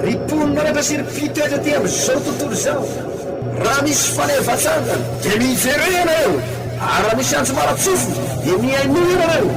Ry mponin'anatra sy ry mpitoetra aty amin'izao tontolo izao, raha misy fanevan-tsangany dia miverena ianareo, ary raha misy antso-maratsofina dia mihainoa ianareo.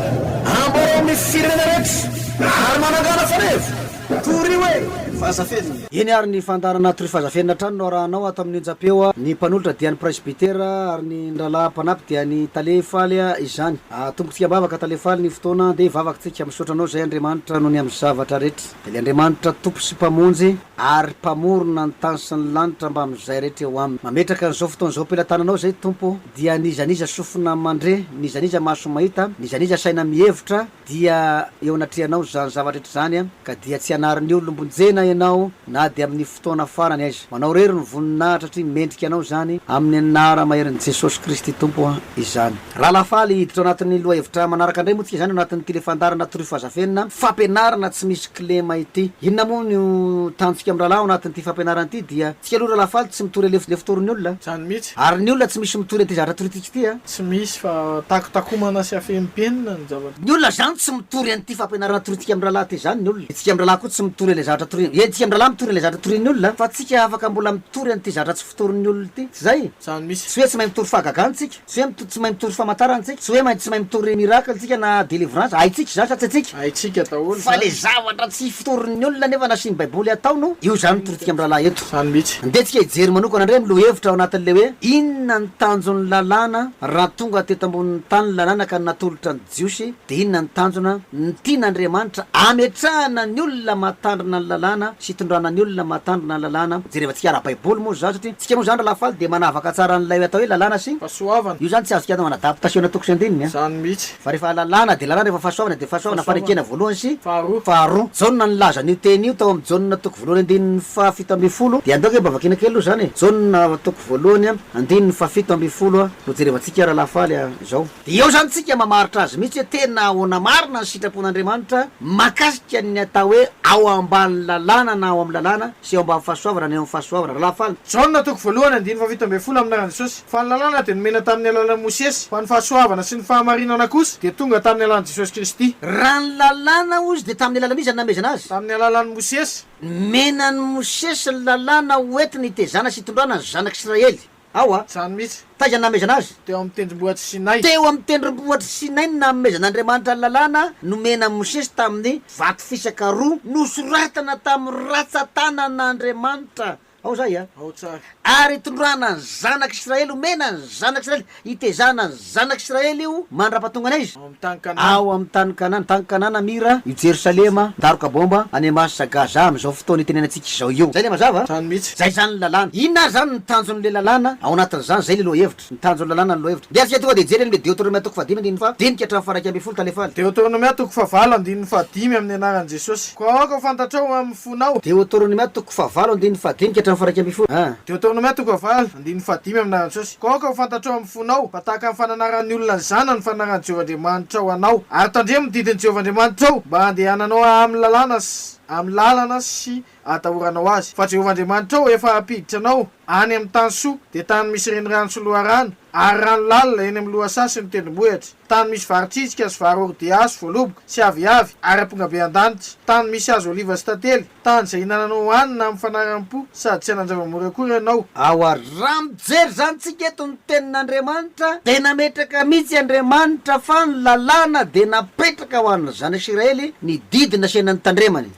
Amboarao amin'ny firenena rehetra ary manangana faneva. Torio hoe, Fazafenina. Eny ary ny fandaharana Torio Fazafenina hatrany no arahanao ato amin'ny onjam-peo. Ny mpanolotra dia ny presbytera ary ny nyrahalahy mpanampy dia ny tale faly izany. Atombotsika am-bavaka Tale Faly ny fotoana dia vavaka tsika Misaotra anao Zay Andriamanitra no ny amin'ny zavatra rehetra Dia le Andriamanitra Tompo sy Mpamonjy Ary Mpamorona ny tany sy ny lanitra Mba amin'izay rehetra eo aminy Mametraka an'izao fotoana izao am-pelatananao Zay Tompo Dia ny iza n'iza sofina mandre Ny iza n'iza maso mahita Ny iza n'iza saina mihevitra Dia eo anatrehanao izany zavatra rehetra izany Ka dia tsy anarin'ny olom-bonjena ianao Na dia amin'ny Fotoana farany aiza? Manao irery ny voninahitra atria mendrika anao izany amin'ny anara maherin'i Jesosy Kristy Tompo izany. Rahalahy faly hiditra ao anatin'ny lohahevitra manaraka indray moa tsika izany ao anatin'ity le fandaharana Truffaut Zafenina fampianarana tsy misy kilema ity. Inona moa no tanjontsika amin'ny rahalahy ao anatin'ity fampianarana ity dia tsika aloha rahalahy faly tsy mitory alefa lefa torin'ny olona. Izany mihitsy. Ary ny olona tsy misy mitory an'ity zavatra torintsika ity a. Tsy misy fa takotakomana sy afehim-penina ny zava-. Ny olona zany tsy mitory an'ity fampianarana torintsika amin'ny rahalahy ity zany ny olona, itsika amin'ny rahalahy koa tsy mitory an'ilay zavatra toriany, eny tsika amin'ny rahalahy mitory an'ilay zavatra torian'ny olona fa tsika afaka mbola mitory an'ity zavatra tsy fotorin'ny olona ity, tsy zay? Zany misy. Tsy hoe tsy mahay mitory fahagagana tsika, tsy hoe tsy mahay mitory famatarana tsika, tsy hoe tsy mahay mitory miracle tsika na delivrance, haintsika izany sa tsy haintsika? Haintsika daholo izany. Fa le zavatra tsy fotorin'ny olona nefa nasian'ny baiboly hatao no io zany ny torintsika amin'ny rahalahy eto. Izany mihitsy. Andeha tsika hijery manokana indray ny lohahevitra ao anatin'ilay hoe Inona ny tanjon'ny lalàna raha tonga teto ambonin'ny tany ny lalàna ka natolotra ny Jiosy dia inona ny tanjona ny tian'Andriamanitra ametrahana ny olona mahatandrina ny lalàna sy itondrana ny olona mahatandrina ny lalàna jerevantsika ara-baiboly moa izany satria isika moa izany ralahafaly dia manavaka tsara an'ilay atao hoe lalàna sy Fahasoavana. Io izany tsy azontsika atao anadaptasiona toko sy andininy a. Izany mihitsy. Fa rehefa lalàna dia lalàna, rehefa fahasoavana dia fahasoavana, fanekena voalohany sy faharoa. Jaona nilaza an'io teny io tao amin'ny Jaona toko voalohany andininy fahafito ambin'ny folo, dia andao ange mba vakiana kely aloha izany e, Jaona toko voalohany andininy fahafito ambin'ny folo no jerevantsika rahalahy faly izao. Dia eo izany tsika mamaritra azy mihitsy hoe tena ahoana marina ny sitrapon'Andriamanitra mahakasika ny atao hoe ao ambanin'ny lalàna na ao amin'ny lalàna sy ao ambanin'ny fahasoavana na eo amin'ny fahasoavana, rahalahy faly. Jaona toko voalohany andininy fahafito ambin'ny folo amin'ny anaran'i Jesosy. Fa ny lalàna dia nomena tamin'ny alalan'i Mosesy, fa ny fahasoavana sy ny fahamarinana kosa dia tonga tamin'ny alalan'i Jesosy Kristy. Raha ny lalàna hozy dia tamin'ny alalan'iza no namehezana azy? Tamin'ny alalan'i Mosesy. Nomena an'i Mosesy ny lalàna ho entiny hitezana sy hitondrana ny zanak'Israely. Ao a. Izany mihitsy. Taiza no namehezana azy? Teo amin'ny tendrombohitr'i Sinay. Teo amin'ny tendrombohitr'i Sinay no namehezan'Andriamanitra ny lalàna nomena an'i Mosesy tamin'ny vato fisaka roa nosoratana tamin'ny ratsan-tanan'Andriamanitra. Ao zay a! Ao tsara. Ary itondràna ny zanak' Israely, omena ny zanak' Israely, itezàna ny zanak' Israely io mandra-pahatonga an' aiza? Ao amin'ny tany Kanana. Ao amin'ny tany Kanana. Tany Kanana, Mira, i Jerosalema, daroka bômba, any Amasa, Gaza, amin'izao fotoana itenenantsika izao io. Zay le mazava a! Zany mihitsy. Zay zany ny lalàna. Inona ary zany ny tanjon'le lalàna ao anatin'izany? Zay le lohahevitra. Ny tanjon'ny lalàna ny lohahevitra. Ndeha isika tonga dia hijery an'ilay Deoteronomia toko fahadimy andininy faha dinika hatramin'ny faha iraika ambin'ny folo Taalefaly. Deoteronomia toko fahavalo andininy fahadimy amin'ny anaran'i Jesosy. Koa aoka ho fantatrao eo amin'ny fonao. Deoteronomia toko fahavalo andininy fahadinika hatramin'ny faha iraika ambin'ny folo a. Deoteronomia toko fahavalo andininy fahadimy amin'ny anaran'i Jesosy. Koa aoka ho fantatrao amin'ny fonao fa tahaka ny fananaran'ny olona ny zanany ny fananaran'i Jehovah Andriamanitrao anao. Ary tandremo ny didin'i Jehovah Andriamanitrao mba handehananao amin'ny lalàna sy amin'ny lalana sy atahoranao azy. Fa Jehovah Andriamanitrao efa hampiditra anao any amin'ny tany soa, dia tany misy renirano sy loharano, ary rano lalina eny amin'ny lohasaha sy ny tendrombohitra, tany misy vary tritsika sy vary ordiasy voaloboka sy aviavy ary ampongabe an-danitra, tany misy hazo oliva sy tantely, tany izay hinananao hohanina amin'ny fanaram-po, sady tsy hanan-javamory akory ianao. Ao ary. Raha mijery izany tsika eto ny tenin'Andriamanitra dia nametraka mihitsy Andriamanitra fa ny lalàna dia napetraka ho an'ny Zanak'Isiraely ny didy naseho nanitandremany.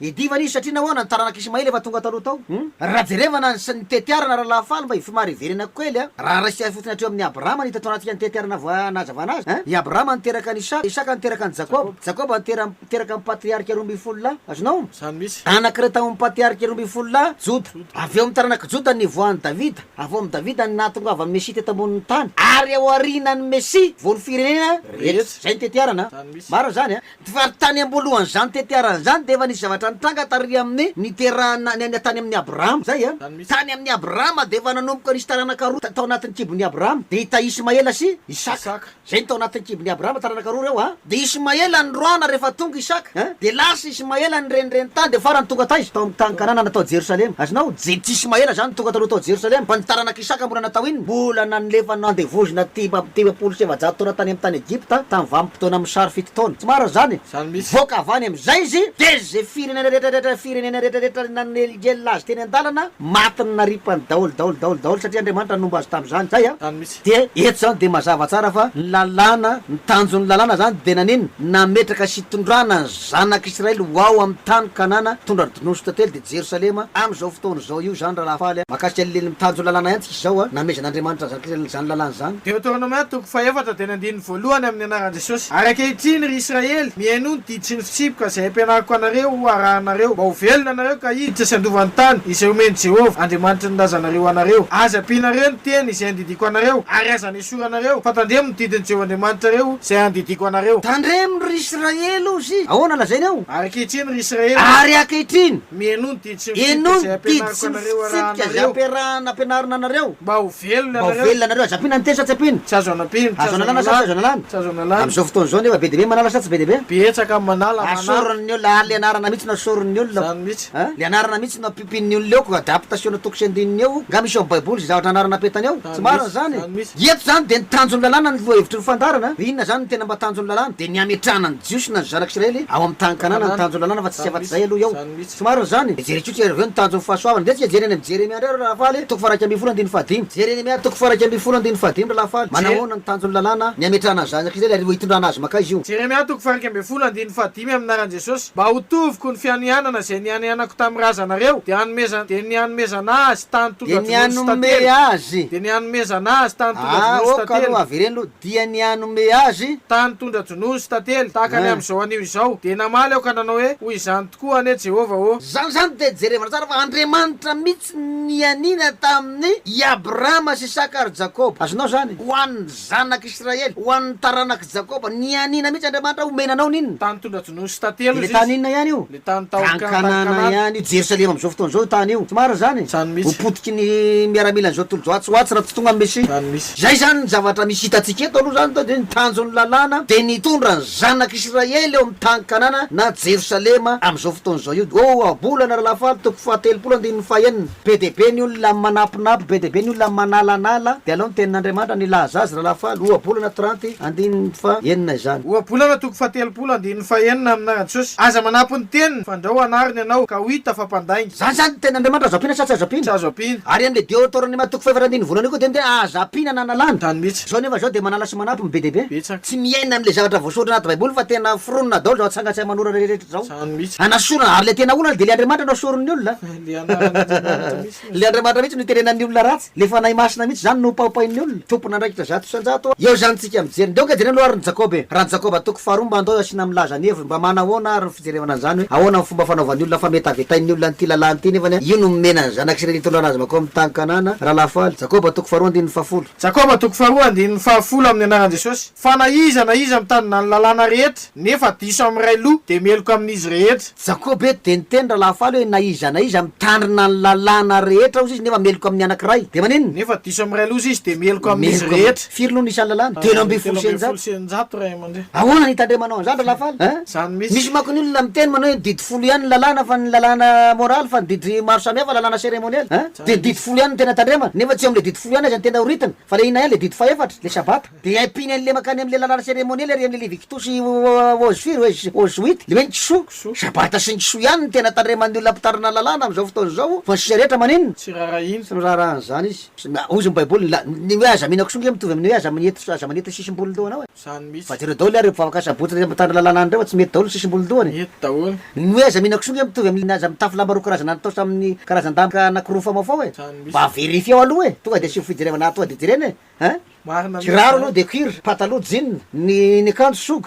Niadivana izy satria nahoana ny taranak' Ismaela efa tonga taloha tao? Hum. Raha jerevana ny ny tetiarana Rahalahy Faly mba hifimary hiverena ko kely a! Raha raisika ahy fotsiny hatreo amin'ny Abrahama no hita tao anatin'ka ny tetiarana voa nazavana azy a! I Abrahama niteraka an'i Isaka, Isaka niteraka an'i Jakoba, Jakoba nitera niteraka ny patriarika roa ambin'ny folo lahy, azonao? Izany mihitsy. Anankiray tao amin'ny patriarika roa ambin'ny folo lahy, Joda. Avy eo amin'ny taranak'i Joda no nivoahan'i Davida, avy eo amin'i Davida no nahatongavan'ny Mesia teto ambonin'ny tany, ary ao aorianan'ny Mesia vao ny firenena rehetra. Izay ny tetiarana. Izany mihitsy. Marina izany a! Vary tany amboalohany zany tetiarana zany dia efa nisy zavatra nitranga tary aminy niterahana ny tany aminy Abrahama izay a, tany aminy Abrahama dia efa nanomboka nisy taranaka roa tao anatiny kibony Abrahama dia i ta Ismaela sy Isaka izay no tao anatiny kibony Abrahama taranaka roa ireo a dia Ismaela noroahana rehefa tonga Isaka a dia lasa Ismaela nirenireny tany dia farany tonga taiza tao aminy tany Kanana natao Jerosalema azonao je tsy Ismaela zany no tonga taloha tao Jerosalema fa ny taranaka Isaka mbola natao inona mbola nanlefa nandevozina dimapolo sy efajato taona tany aminy tany Egypta tany Fotoana amin'ny sary fito taona. Tsy marina izany e! Izany mihitsy. Mivoaka avy any amin'izay izy dia izay firenena rehetrarehetra firenena rehetrarehetra nanelingelina azy teny an-dalana, matiny naripany daholo daholo daholo daholo satria Andriamanitra nomba azy tamin'izany. Izay an! Izany mihitsy. Dia eto izany dia mazava tsara fa ny lalàna, ny tanjon'ny lalàna izany dia nanino? Nametraka sy hitondrana ny zanak'Israely ho ao amin'ny tany Kanana, hitondra ny dnositra telo dia Jerosalema, amin'izao fotoana izao io izany Ralahafaly a! Mahakasika ny tanjon'ny lalàna ihany tsika. Izao an, namezan'Andriamanitra ny Zanak'israely izany lalàna izany. Deoteronomia toko fahefatra teny andininy voalohany amin'ny anaran'i Jesosy. Ary ankehitriny, ry Israely, mihainoa ny didy sy ny fitsipika izay ampianariko anareo ho arahinareo, mba ho velona ianareo ka hiditra sy handova ny tany izay omen'i Jehovah, Andriamanitry ny razanareo anareo. Aza ampianareo ny teny izay andidiako anareo, ary aza anesoranareo, fa tandremo ny didin'i Jehovah Andriamanitrareo izay andidiako anareo. Tandremo, ry Israely, hozy! Ahoana lazainy ao? Ary ankehitriny, ry Israely. Ary ankehitriny! Mihainoa ny didy. Enoy ny didy sy ny fitsipika izay ampiarahana ampianarina anareo. Mba ho velona ianareo. Mba ho velona ianareo. Aza ampiana ny teny sa tsy ampiana. Tsy azo anampiana. Azo analana sa tsy azo analana. Tsy azo analana. Amin'izao fotoana izao nefa be dia be ny manala sa tsy be dia be. Betsaka ny manala, manala. Asorin'ny olona, ary le anarana mihitsy no asorin'ny olona. Izany mihitsy. An, le anarana mihitsy no ampiompin'ny olona eo, koa adaptation na toko sy andininy eo. Nga misy ao amin'ny baiboly izay zavatra anarana apetany ao? Tsy marina izany. Izany mihitsy. Eto izany dia ny tanjon'ny lalàna ny lohahevitry ny fandaharana. Inona izany no tena mba tanjon'ny lalàna? Dia ny hametrahana ny Jiosy na ny zanak'Israely ao amin'ny tany Kanana no tanjon'ny lalàna fa tsy tsy afa-tsy izay aloha eo. Misy tsy marina izany e! Jereo tsotra ianareo avy eo ny tanjon'ny fahasoavana. Ndeha tsika hijery any amin'ny Jeremia indray ry Ralahafaly e! Toko faharaika ambin'ny folo andininy fahadimy. Jeremia toko faharaika ambin'ny folo andininy fahadimy ry Ralahafaly. Manahoana ny tanjon'ny lalàna ny hametrahana ny zanaka Israely ary ho hitondrana azy mankaiza io? Jeremia toko faharaika ambin'ny folo andininy fahadimy Amin'ny anaran'i Jesosy, mba ho toviko ny fianianana izay nianianako tamin'ny razanareo, dia hanomezana, dia ny hanomezana azy tany Dia ny tondra-dronono sy tantely, hanomey azy. dia ny hanomezana azy tany tondra-dronono sy Aoka aloha tantely. avereno dia ny hanome azy. Tany tondra-dronono sy tantely, tahaka ny amin'izao anio izao. Dia namaly aho ka nanao hoe, Hoy izany tokoa anie Jehovah ô! Izany izany dia jerevana tsara fa Andriamanitra mihitsy no nianiana tamin'i Abrahama sy Isaka ary Jakoba. Azonao izany? Ho an'ny zanak'Israely, ho an'ny taranak'i Jakoba. Nianiana mihitsy Andriamanitra homena anao an'inona? Tany tondra-dronono sy tantely, hoy Izy. Ilay tany inona ihany io? Tanàna ihany io Jerosalema amin'izao fotoana izao io tany io. Tsy marina izany? Ho potiky ny miaramilan'izao tontolo izao atsy ho atsy raha tsy tonga ny Mesia. Izay izany ny zavatra misy hitantsika eto aloha izany dia ny tanjon'ny Lalàna dia ny hitondra ny zanak'Israely eo amin'ny tany Kanana na Jerosalema amin'izao fotoana izao io. Oabolana Ralahafalo toko fahatelopolo andininy fahenina. Be dia be ny olona manampinampy, be dia be ny olona manalanala, dia alao ny tenin'Andriamanitra ny hilaza azy ralahafaly, Ohabolana trente, andininy fa enina izany. Ohabolana toko fahatelopolo, andininy fa enina, amin'ny anaran'i Jesosy, aza manampy ny teniny, fandrao anariny ianao, ka ho hita fa mpandainga. Izany izany ny tenin'Andriamanitra azo ampiana sa tsy azo ampiana? Tsy azo ampiana. Ary an'ilay Deoteronema toko fahefatra andininy voalohany io koa dia ny teny hoe aza ampiana na analana. Izany mihitsy. Izao nefa izao dia manala sy manampy ny be dia be. Betsaka. Tsy miaina an'ilay zavatra voasoratra anaty baiboly fa tena foronina daholo izao atsangan-tsain'ny manoratra rehetra izao. Izany mihitsy. Hanasorana, ary ilay tena olana dia ilay Andriamanitra no asorin'ny olona. Le anaran'Andriamanitra mihitsy no. Le Andriamanitra mihitsy no iterenan'ny olona ratsy, le Fanahy Masina mihitsy zany no hopaopain'ny olona, tompon'andraikitra zato isan-jato a! Eo zany tsika mijery, ndao ka jereo aloha ary ny Jakoba e! Raha ny Jakoba toko faharoa mba ndao asiana milaza ny heviny, mba manahoana ary ny fijerevana an'zany hoe ahoana ny fomba fanaovan'ny olona fametavetain'ny olona an'ity lalàna ity nefany io no momena ny zanak'i Israely hitondra anazy makao amin'ny tany Kanana, Ralahafaly. Jakoba toko faharoa andininy fahafolo. Jakoba toko faharoa andininy fahafolo amin'ny anaran'i Jesosy, fa na iza na iza mitanina ny lalàna rehetra, Nefa diso amin'ny ray loha dia meloka amin'izy rehetra. Jakoba eto dia niteny ralahafaly hoe na iza na iza mitandrina ny lalàna rehetra ozy izy nefa meloka amin'ny anankiray dia maninona? Nefa diso amin'ny ray loha izy dia meloka amin'izy Meloka amin'ny. rehetra. Firy no ny isan'ny lalàna? Telo ambin'ny folo Telo sy ambin'ny folo eninjato. sy eninjato ray aman-dreny. Ahoana ny hitandremanao an'izany ralahafaly? Hein? Izany mihitsy. Misy manko ny olona miteny manao hoe didy folo ihany ny lalàna fa ny lalàna moraly fa ny didy maro samihafa lalàna seremonialy. Hein? Dia ny didy folo ihany no tena tandremana. Nefa tsy eo amin'ilay didy folo ihany aza ny tena ho ritina fa ilay inona ihany ilay didy fahefatra, ilay sabata. Dia ampiany an'ilay mankany amin'ilay lalàna seremoniely ary amin'ilay Levitiko sy Oz firy oe? Oz wit? Le hoe ny kisoa? Sabata sy ny kisoa ihany no tena tandreman'ny olona mpitarina lalàna amin'izao fotoana izao fa ny sisa rehetra maninona? Tsy raharahiana. Tsy noraharahan' izany izy. Hoy izy ny Baiboly, la, ny hoe aza mihina kisoa nge mitovy amin'ny hoe aza mineto aza maneto ny sisim-bolon-dohanao e. Izany mihitsy. Fa jereo daholo ary ireo mpivavaka sabotsy ireo mitandrina lalàna any ireo fa tsy mety daholo ny sisim-bolon-dohany e. Mety daholo. Ny hoe aza mihina kisoa nge mitovy amin'ny aza mitafy lamba roa karazana nitaosa amin'ny karazan-damba anakiroa famaofao e. Izany mihitsy. Mba verifieo aloha e. Tonga dia asivo fijerevana tonga dia jerena e. Hein? Kiraro aloha dia cuir, pataloha jean, ny ny akanjo sog,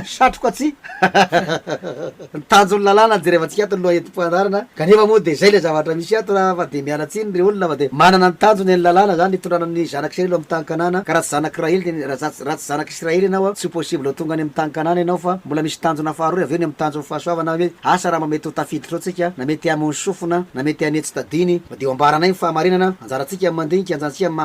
satroka tsy. Ny tanjon'ny lalàna jerevantsika ato ny lohahevi-po anarana kanefa moa dia izay ilay zavatra misy ato a, fa dia miala tsiny ry olona fa dia manana ny tanjony ny lalàna zany hitondrana ny zanak'israely amin'ny tany kanana ka raha tsy zanak'i rahely dia raha za raha tsy zanak'israely ianao a tsy ho possible ho tonga any amin'ny tany kanana ianao fa mbola misy tanjona faharoa avy eo ny amin'ny tanjon'ny fahasoavana hoe asa raha mba mety ho tafiditra ao tsika na mety hamono sofina na mety hany tsy tadiny Dia ho ambaranay ny fahamarinana, anjarantsika ny mandinika, anjantsika ny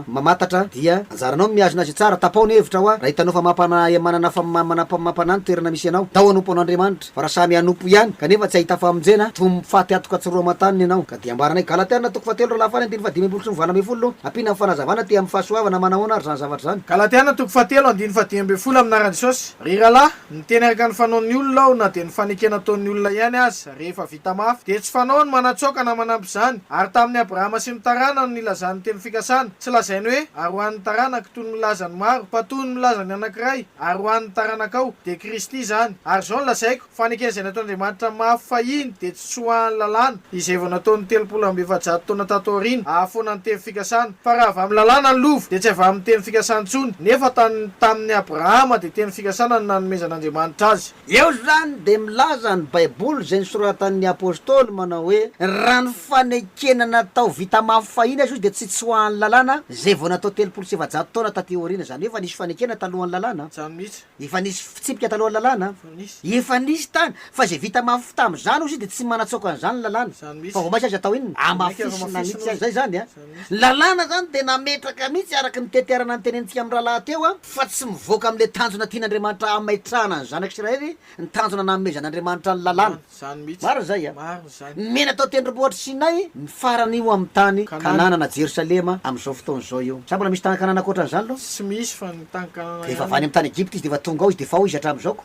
mamantatra, dia anjaranao ny mihazona izay tsara, tapao ny hevitra hoa, raha hitanao fa mampanahy amanana fa mampanahy ny toerana misy anao, tao hanompo an'Andriamanitra, fa raha samy hanompo ihany, kanefa tsy hahita famonjena, toy ny mpifady hatoka tsy roa aman-taniny ianao. Ka dia ambaranay, Galatiana toko fahatelo roa lahy faha-enina ambin'ny fahadimy ambin'ny folo sy ny valo ambin'ny folo no ampiana amin'ny fanazavana aty amin'ny fahasoavana, manahoana ary izany zavatra izany? Galatiana toko fahatelo andininy fahadimy ambin'ny folo Amin'aran'i Jesosy, ry rahalahy, niteny araka ny fanaon'ny olona aho na dia ny fanekena ataon'ny olona ihany aza, Rehefa vita mafy, dia tsy fanao ny manatsoaka na manampy izany. Ary tamin'i Abrahama sy ny taranany no nilazany ny teny fikasana. Tsy lazainy hoe, Ary ho an'ny taranako, toy ny milaza ny maro, fa toy ny milaza ny anankiray, Ary ho an'ny taranakao. Dia Kristy izany. Ary izao no lazaiko, fa ny ekena izay nataon'Andriamanitra amin'ny mafy fahiny dia tsy tsoahan'ny lalàna, izay vao nataony telopolo amby efajato taona tato aoriana, hahafoana ny teny fikasana. Fa raha avy amin'ny lalàna ny lova, dia tsy avy amin'ny teny fikasana intsony, nefa tany tamin'i Abrahama dia teny fikasana no nanomezan'Andriamanitra azy. Eo izany dia milaza ny Baiboly izay nosoratan'ny Apostoly manao hoe, Raha ny fanekena natao vita mafy fahiny aza izy dia tsy tsy ho an'ny lalàna izay vao natao telopolo sy efajato taona taty aoriana. Izany hoe efa nisy fanekena talohan'ny lalàna. Efa nisy fitsipika talohan'ny lalàna. Efa nisy tany. Fa izay vita mafy tamin'izany ozy dia tsy manatsoaka an'izany ny lalàna. Fa vao mainka aza atao inona? Amafisina mihitsy aza izany. Ny lalàna izany dia nametraka mihitsy araka ny tetiarana notenenintsika mirahalahy teo fa tsy mivoaka amin'ilay tanjona tian'Andriamanitra hametrahana ny zanaka Isiraely ny tanjona nanomezan'Andriamanitra ny lalàna. Marina izay a! Nomena tao tendrombohitr'i Sinay ny farany ho amin'ny tany Kanana na Jerosalema amin'izao fotoana izao io. Sa mbola misy tany Kanana ankoatran'izany aloha? Dia efa avy any amin'ny tany Egypta izy dia efa tonga ao izy dia efa ao izy hatramin'izao ko.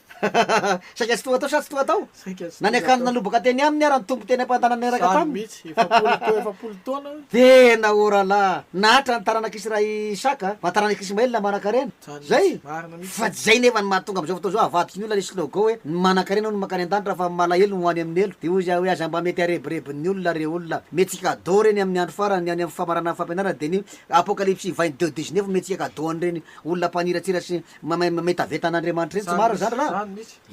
Saika tsy toa tao sa tsy toa tao? Nanekano nanobaka teny aminy ara ny Tompo teny am-pantanana niaraka taminy. Tena ô rahalahy, nahatra ny taranak'Israely i Isaka, fa taranak'Ismaela manankarena. Izay? Fa tsy izay nefa ny mahatonga amin'izao fotoana izao havadiko ny olona ilay slogan hoe, Ny manankarena hono mankany an-danitra fa ny malahelo no ho any amin'ny helo. Dia hoy izaho hoe aza mba mety harebirebin'ny olona ireo olona. Mety tsy cadeau ireny amin'ny andro farany, ny any amin'ny famaranana fampianarana dia ny Apokalypsy vain'i Deo Dix-Neuf no mety tsy cadeau an'ireny olona mpaniratsira sy Mametaveta an'Andriamanitra eny tsy marina zany raha?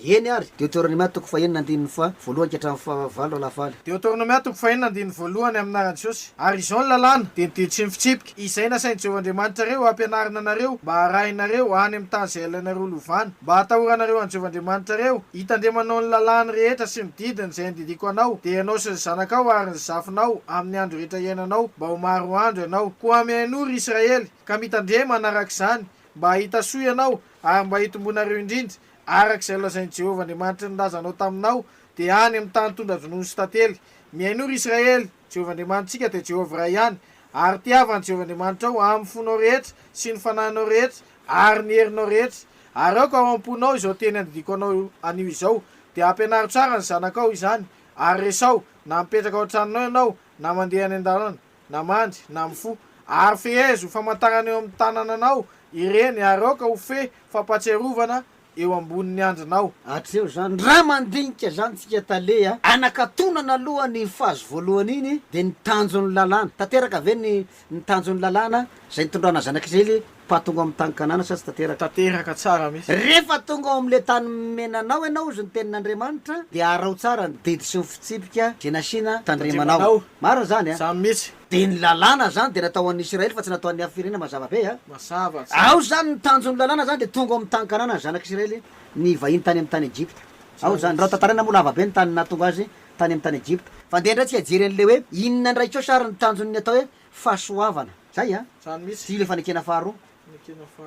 Eny ary. Deoteronomia toko fahenina andininy faha voalohany ka hatramin'ny faha valo raha lafaly. Deoteronomia toko fahenina andininy voalohany amin'ny anaran'i Jesosy. Ary izao ny lalàna, dia ny didy sy ny fitsipika, izay nasain'i Jehovah Andriamanitrareo hampianarina anareo mba harahinareo any amin'ny tany izay halainareo ho lovana, mba hatahoranareo an'i Jehovah Andriamanitrareo, hitandremanao ny lalàny rehetra sy ny didiny izay andidiako anao, dia ianao sy ny zanakao ary ny zafinao amin'ny andro rehetra iainanao, mba ho maro andro ianao. Koa mihainoa, ry Israely, ka mitandrema hanaraka izany, mba hahita soa ianao ary mba hitomboanareo indrindra, araka izay nolazain'i Jehovah Andriamanitry ny razanao taminao, dia any amin'ny tany tondra-dronono sy tantely. Mihainoa, ry Israely, Jehovah Andriamanitsika dia Jehovah iray ihany, ary tiavo an'i Jehovah Andriamanitrao amin'ny fonao rehetra sy ny fanahinao rehetra ary ny herinao rehetra. Ary aoka ao am-ponao izao teny andidiako anao anio izao, dia ampianaro tsara ny zanakao izany, ary resaho, na mipetraka ao an-tranonao ianao na mandeha any an-dalana. na mandry, na mifoha, ary fehezo famantarana eo amin'ny tanananao ireny, ary aoka ho fehy fampatsiarovana eo ambonin'ny andrinao. Atreho izany, raha mandinika izany tsika tale a! Anakatonana aloha ny phase voalohany iny dia ny tanjon'ny lalàna. Tanteraka ve ny ny tanjon'ny lalàna izay nitondrana zanak'Israely? Fa tonga ao amin'ny tany Kanana sa tsy tanteraka? Tanteraka tsara mihitsy. Rehefa tonga ao amin'ilay tany menanao ianao, hozy ny tenin'Andriamanitra, dia araho tsara ny didy sy ny fitsipika izay nasiana tandremanao. Marina izany an? Izany mihitsy. Dia ny lalàna izany dia natao ho an'ny Isiraely fa tsy natao ho an'ny hafa firenena, mazava be an? Mazava tsara. Ao izany ny tanjon'ny lalàna izany dia tonga ao amin'ny tany Kanana ny zanak'Isiraely nivahiny tany amin'ny tany Egypta. Ao izany. Raha ho tantaraina moa lava be ny tany nahatonga azy tany amin'ny tany Egypta. Fa andeha indray tsika hijery an'ilay hoe inona indray koa sary ny tanjon'ny atao hoe fahasoavana. Zay an! Ty le fanekena faharoa.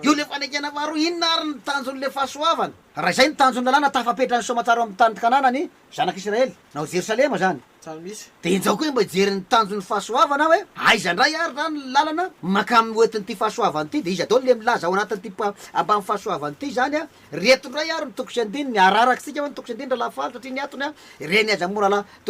Io le fanekena faharoa, inona ary ny tanjon' le fahasoavana? Raha izay ny tanjon' ny lalàna tafapetra ny soamatsara eo amin' ny tanin' i Kanana ny zanak' Isiraely, na ao Jerosalema izany, dia injao koa mba hijery ny tanjon' ny fahasoavana aho hoe, aiza indray ary izany ny lalana mankamy ho entin' ity fahasoavana ity, dia iza daholo le milaza ao anatin' ity ambany fahasoavana ity izany an? Ry eto indray ary ny toko sy andininy, ararakintsika hoe ny toko sy andininy ralahy Falo satria ny atony an, ireny aza moa ralahy.